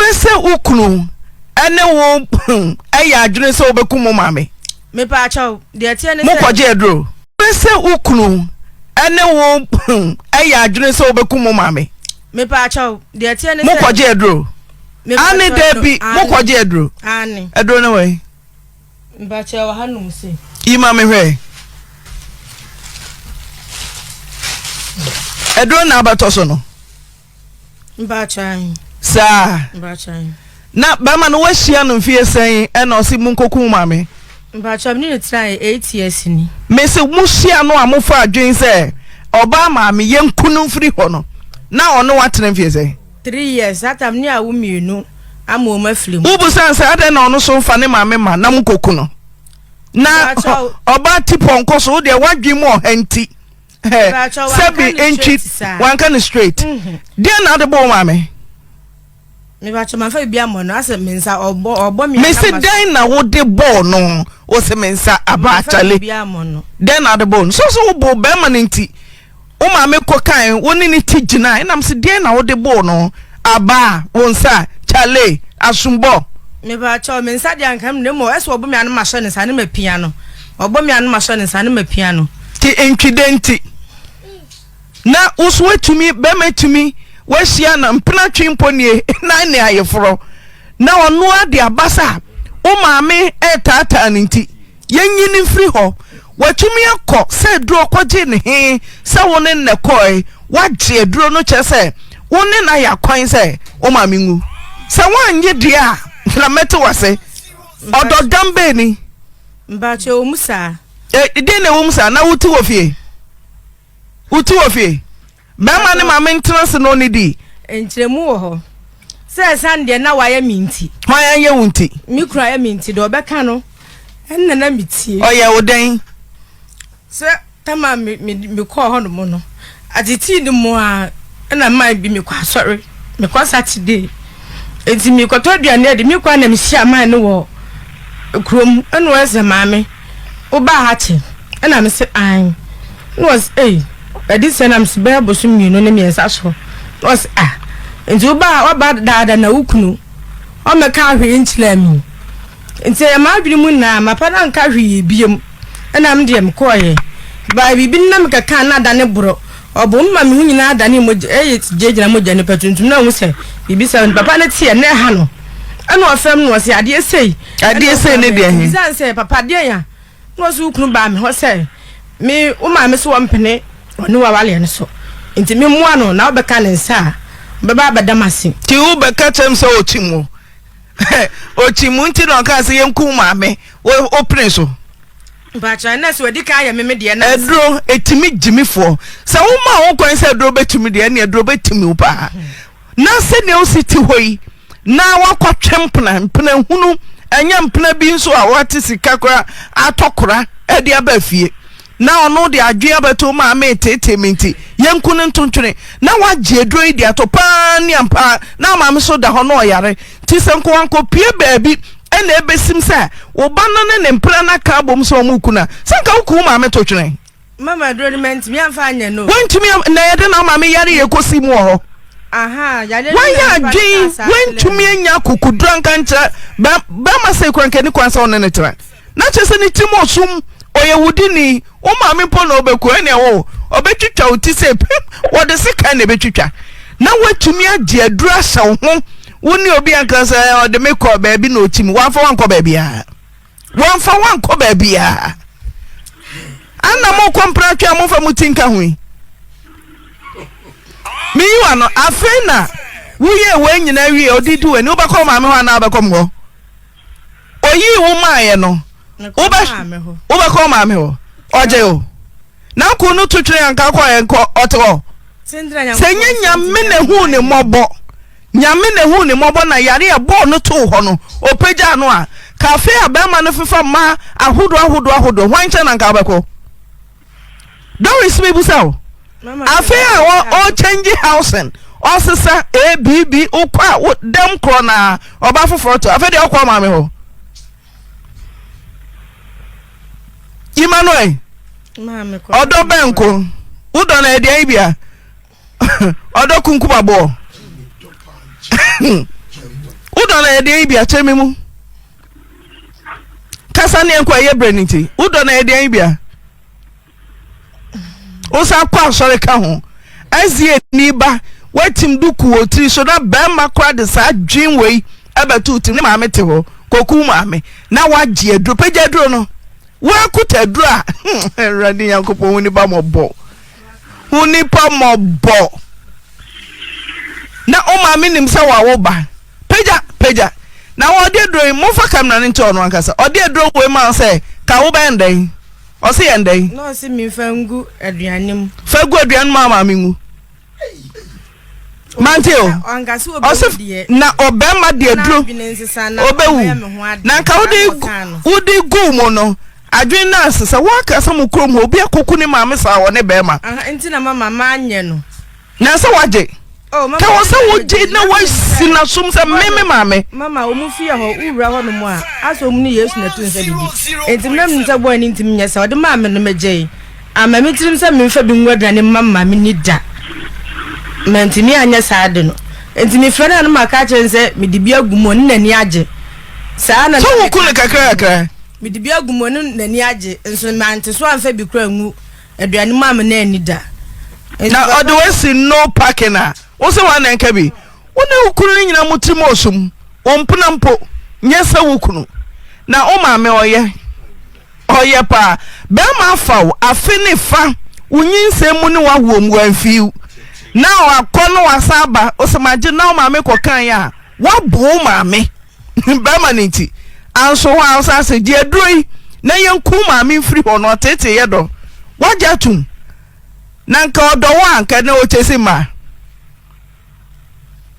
Pɛ sɛ wo kunu ne wo yɛ adwene sɛ wobɛku mo maame. Mepa akyɛw, deɛ teɛ ne sɛ. Mokɔgye aduro. Pɛ sɛ wo kunu ne wo yɛ adwene sɛ wobɛku mo maame. Mepa akyɛw, deɛ teɛ ne sɛ. Mokɔgye aduro. Ane daabi, mokɔgye aduro. Ane. Aduro ne wɔ yi. Mepa akyɛw, wɔ ha nom se. Yi ma me hwɛ. Aduro na abɛtɔ so no. saa na bɛrima no wahyia no mfie sɛn ɛna ɔse mu nkokun ma me mese mohyia no a mofa adwen sɛ ɔbaa maa me yɛnku no mfiri hɔ no na ɔne watena mfie sɛn wobu sane sɛ adɛn na ɔno so mfa ne maame ma na mokoku no na ɔbaa ti pɔnkɔ so wodeɛ woadwen mu ɔha nti sɛbi ntwi wanka no straight mhm. deɛ na ade bɔ ma me mebɛkyɛ mafa biribi ammɔ no asɛ me nsa ɔbɔ me mese dɛn na wode bɔɔ no wo se me nsa aba akyale dɛn na ade bɔɔ no so so wobo bɛrima no nti wo ma me kɔ kan wo ne ne ti gyina ɛnam se deɛn na wode bɔɔ no aba wo nsa kyale asombɔ mebɛkyɛ me nsa deɛ anka mene mmɔ ɛsɛ ɔbɔ me ano mahyɛ ne nsa ne mapia no Ɔbɔ me a na masɔ ne nsa na mapia no. Te ntwi dɛ nti na wo so woatumi bɛma tumi woahyia na mpena twe mpo nie na ne ayeforɔ na ɔno ara de aba sɛ a wo maame retaataa no nti yɛnyi no mfiri hɔ watumi akɔ sɛ aduro kɔgye ne he sɛ wo ne nnɛ kɔe woagye aduro no kyerɛ sɛ wo ne no ayɛ akwan sɛ wo maame nwu sɛ woannye deɛ a na mɛte wase ɔdɔ dambɛ ni Mbakyɛ wɔ mu saa. Ɛ den na ɛwɔ mu saa na wo ti wɔ fie wo ti wɔ fie bɛrima ne maame ntena se na ɔne di. Nkyerɛmu wɔ hɔ sɛ ɛsan deɛ na wayɛ mi nti. Hwan ayɛ wo nti? Me kura ayɛ mi nti deɛ ɔbɛka no ɛnna na mi tie. Ɔyɛ wo dɛn? Sɛ Ɛma me me mekɔɔ hɔnom no atetii no mu a ɛna maa bi mekɔ asɔre mekɔ Saturday eti mekɔtɔ aduane adi mekɔ a na mehyia maa no wɔ kurom ɛna wɔyɛ sɛ maame wobaa ha kyɛ ɛna me se an na wɔsɛ ei ɛde sɛ nam se bɛyɛ bosom mmienu ne mmiɛnsa so na wɔsɛ ah nti wobaa waba daada na wo kunu ɔmɛka ahwee nkyerɛ mi nti ɛyɛ m'adwene mu nyinaa mapa no anka hwee biom ɛna me deɛ mekɔɔyɛ baa biribi no na mekɛkaa na adane borɔ ɔbo no ma me ho nyinaa adane mogya ɛyɛ gyinagyina mogya nipa tuntum na ɔhu sɛ biribi sɛ no papa no teɛ na ɛha no ɛna ɔfam no ɔsɛ adeɛ sei adeɛ sei ne deɛ he ɛsiane sɛ papa deɛ ya na ɔsɛ wokunu baa me hɔ sɛ me wo maame sɛ wɔmpene ɔne wawaleɛ no so nti memmoa no na wobɛka ne nsa a bɛba abɛdam ase nti wobɛka kyɛm sɛ ɔkyi mu okyi mu nti na ɔka sɛ yɛnku maame wopene so mpakyɛ na sɛ wadi kan yɛ meme deɛ na aduro ɛtumi gyimifoɔ sɛ woma wo kwan sɛ aduro bɛtumi deɛ ne aduro bɛtumi wo paa na sɛdeɛ wosi te hɔ yi na woakɔtwe mpena mpena hunu ɛnyɛ mpena bi nso a woate sika kora atɔ kora ɛde aba fie na ɔno de adwene abɛto mu a meeteetee me nti, yɛnku no ntontwene, na wagye aduro yi de ato pa ara ne ampa ara, na maame nso da hɔ na ɔyare. Nti sɛ nkowankopue baabi na ɛbɛsim sɛ wo ba no ne ne mpena no aka abom sɛ wɔreku no a, sɛ anka woku wo maame totwene. Mama aduro no mantumi amfa anyɛ no o. Woantumi am, na yɛde na maame yare yɛ kɔsi mu wɔ hɔ. Ahaa, yadeɛ no Wayɛ na nipa no adwene, kaa saa kyerɛɛ woantumi me. anya akokoduro anka ankyerɛ bɛ, bɛrima sei koraa anka ɛnni kwan sɛ wo ne no tena. na kyerɛ sɛ ne tirim wɔ sum, ɔyɛ wo dini, wo maame mpo na ɔbɛku ɛne ɛwɔ wo, ɔbɛtwitwa wo ti sɛ pim, wɔde sekan na ɛbɛtwitwa, na woatumi agye aduru ahyɛ wo ho, wo ne obi anka sɛ ɔde me kɔ baabi na ɔkyi me, wɔamfa woankɔ baabiara, wɔamfa woankɔ baabiara, ana mokɔ mpratwe a momfa mo ti nka ho yi, meyi wa no, afei na woyɛ wɔn nyinaa wie ɔde di w'ani, wobɛkɔ maame hɔ anaa wobɛkɔ mo hɔ? oyii wo maaeɛ no wobɛkɔ wo maame hɔ ɔgye o na ko no to twene anka kɔ ɛnkɔ ɔte hɔ sɛ nyɛ nyame na hu ne mmɔbɔ nyame na hu ne mmɔbɔ na yare a ɛbɔɔ no too hɔ no ɔpagyaa no a kafe a bɛrima no fefa mmaa ahodoɔ ahodoɔ ahodoɔ hwan nkyɛn na anka wobɛkɔ Doris mebusa wo afei a ɔ change housing ɔsesa abb wokɔ a wo dɛm korɔ na ɔba foforɔ to afei deɛ ɔkɔ maame hɔ Emmanuel ɔdɔ bɛnko wodɔ no ɛdeɛn bia ɔdɔ kunkumaboɔ wodɔ no ɛdeɛn bia kyɛ me mu kasa ne ɛnkɔ ɛyɛ berɛ no nti wodɔ no ɛyɛ deɛn bia wosan kɔ asɔre ka ho ɛsie ni ba woatim duku wɔ tiri so na bɛrima kora de saa dwen wei ɛbɛto tim ne maame te hɔ kɔku maame na woagye aduro pɛgya aduro no woakuta aduro a awurade nyankopɔn wo nipa mɔbɔ wo nipa mɔbɔ na wo maame nim sɛ wawo ba Pagya pagya na wɔ ɔde aduro yi momfa camera no nkyɛ ɔno ankasa ɔde aduro wei ma wo sɛ ka wo bɛn dɛn ɔse yɛn dɛn. Na ɔse memfa ngu aduane mu. Fa gu aduane mu a maame ngu. Mante o. Ɔse na ɔbɛma de aduro ɔbɛwu na nka wode wode gu mu no adwene no ase sɛ woaka sɛ mo kurom hɔ obi akɔku ne maame saa wɔ ne bɛrima. Nti na mama maanyɛ no. nansa wagye oh, ka wɔ sɛ wogye na wasi nasom sɛ me me maame mama ɔmu fie hɔ wowura hɔ nom a asɛ ɔmu ne yesu na ɛto nsa didi enti mena menim sɛ bɔɔ ani ntimi nyɛ sɛ ɔde maa me no megyei ama me tirim sɛ memfa bi ngu aduane mma mma me ni da mantumi anyɛ saa de no enti mefrɛ no a no maka akyerɛ ne sɛ mede bi agu mu ɔne n'ani agye saa na sɛ woku no kakrakakra mede bi agu mu ɔne n'ani agye nso mante so amfa bi kora ngu Aduane maa me na anni da. Na ɔde wasi no parking a, wo se wɔn na nka bi. Wo ne wo kunu no nyina mo tirim osum. Wo mpena mpo, nyɛ sɛ wo kunu. Na wo maame ɔyɛ, ɔyɛ paa. Barima afa wo afe ne fa, wo nyinsɛn mu ne w'awoɔ mu, wamfi wo. Na wakɔ na wasan aba, wo se magye na wo maame kɔkaeɛ a, woabu wo maame. barima no nti anso hɔ a ɔsan sɛ gye aduro yi na yɛnku maame mfiri hɔ no ɔtete yɛ dɔ wagya tum na nka ɔdɔ wɔ anka na ɔkyɛ si mmaa